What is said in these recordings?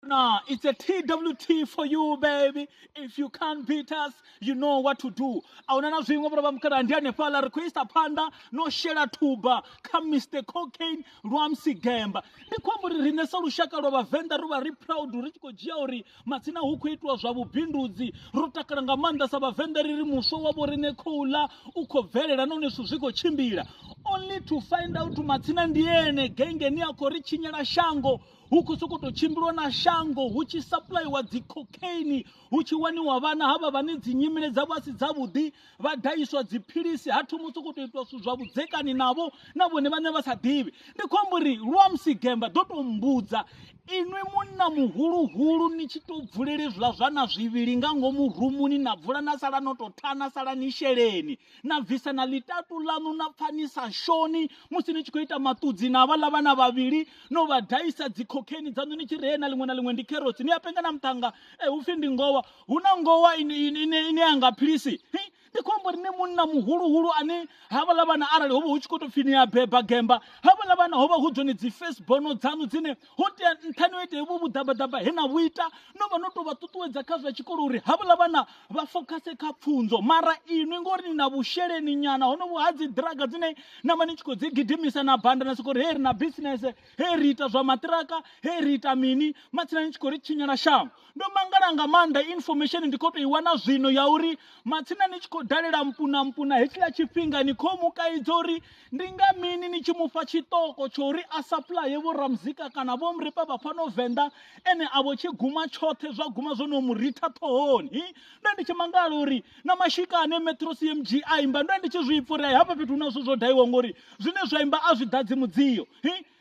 Nah, it's a TWT for you baby. If you can't beat us, you know what to do. Aona na zwiṅwe vhora vha mukala ndi hanefha la requesta phanḓa no shela thuba kha Mr Cocaine Rwamsi Gemba. Ndi khou amba uri riṋe sa lushaka lwa vhavenḓa ro vha ri proud ri tshi khou dzhia uri matsina hu khou itiwa zwa vhubindudzi ro takala nga maanḓa sa vhavenḓa ri ri muswa wa vho riṋe khou ḽa u khou bvelela nahone zwithu zwi khou tshimbila only to find out matsina ndi ene gengeni a khou ri tshinyela shango hu khou sokou tou tshimbilwa na shango hu tshi sapuḽaiwa dzi cocaine hu tshi waniwa vhana havha vhane dzi nyimele dzavho a si dzavhuḓi vha daiswa dziphilisi ha thoma u sokou tou itwa zwithu zwa vhudzekani navho na vhone vhane vha sa ḓivhi ndi khou amba uri luamusi gemba ḓo tou mbudza inwi munna muhuluhulu ni tshi tou bvulela izwiḽa zwa na zwivhili nga ngomu rumuni na bvula na sala no tou tha na sala ni sheleni na bvisa na ḽitatu ḽaṋu na pfha ni sa shoni musi ni tshi khou ita maṱudzi na vhaḽa vhana vhavhili no vha daisa dzikhokheni dzaṋu ni tshi ree na ḽiṅwe na ḽiṅwe ndi kherotsi ni a penga na muṱhanga e eh, upfhi ndi ngowa hu na ngowa ine a nga philisi ndi khou amba uri ni munna muhuluhulu ane havhaḽa vhana arali ho vha hu tshi khou tou pfhi ni a beba gemba havhaḽa vhana ho vha hu dzone dzi facebono dzaṋu dzine ho tea nṱhani o ita vho vhuḓabaḓaba he na vhu ita no vha no tou vha ṱuṱuwedza kha zwa tshikolo uri havhaḽa vhana vha fokhase kha pfunzo mara inwi ngori ni na vhusheleni nyana hono vhu ha dzi draga dzine na vha ni tshi khou dzi gidimisa na banda na sokori hei ri na business hei ri ita zwa matiraka hei ri ita mini matsina ni tshi khou ri tshinyela shango ndo mangala nga maanḓa information ndi khou tou i wana zwino ya uri matsina ni tshi khou dalela mpuna mpuna hetshiḽa tshifhinga ni khou mu kaidza uri ndi nga mini ni tshi mufha tshiṱoko tsho uri a sapuḽaye vho ramuzika kana vho muripa vha fhano venḓa ene a vho tshi guma tshoṱhe zwa guma zwo no mu ritha ṱhohoni ndo ndi tshi mangala uri na mashika ane metro cmg a imba ndo ndi tshi zwi pfura hafha fhethu hu na zwithu zwo daiwa ngori zwine zwa imba a zwi ḓadzi mudzio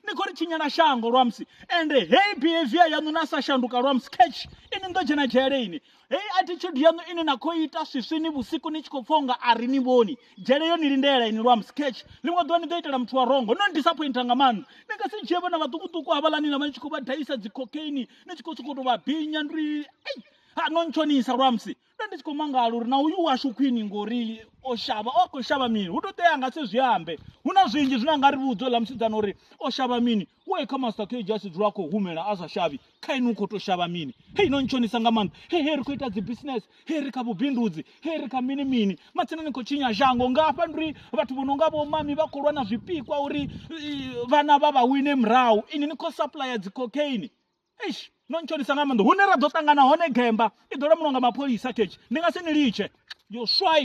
ni khou ri tshinyela shango lwamusi ende heyi behavior yaṋu na sa shanduka lwamusi catch ini ni ḓo dzhena dzhele ini heyi attitude yaṋu ine na khou ita swiswini vhusiku ni tshi khou pfha unga a ri ni vhoni dzhele yo ni lindela ini lwamusi catch ḽiṅwe ḓuvha ni ḓo itela muthu wa rongo no ni disappointa nga maanḓa ni nga si dzhie vhana vhaṱukuṱuku havhaḽani na vha ni tshi khou vha daisa dzi cocaine ni tshi khou sokou tou vha binya ndi ri ei ha no ntshonisa lwamusi nda ndi tshi khou mangala uri na uyu washu khwini ngori o shavha o khou shavha mini hu to tea nga se zwi ambe hu na zwinzhi zwine anga ri vhudza ḽa musidzana uri o shavha mini u e kha master k just dzula khou humela a sa shavhi kha inwi u khou to shavha mini hei no ntshonisa nga maanḓa he he ri khou ita dzi business he ri kha vhubindudzi he ri kha mini mini matsina ni khou tshinya shango nga hafha ndi vhathu vho no nga vho mami vha khou lwa na zwipikwa uri vhana vha vha wine murahu ini ni khou supplier dzi cocaine eish no ntshonisa nga maanḓa hune ra ḓo ṱangana hone gemba i ḓo lamuliwa nga mapholisa khetshe ndi nga si ni litshe yo swai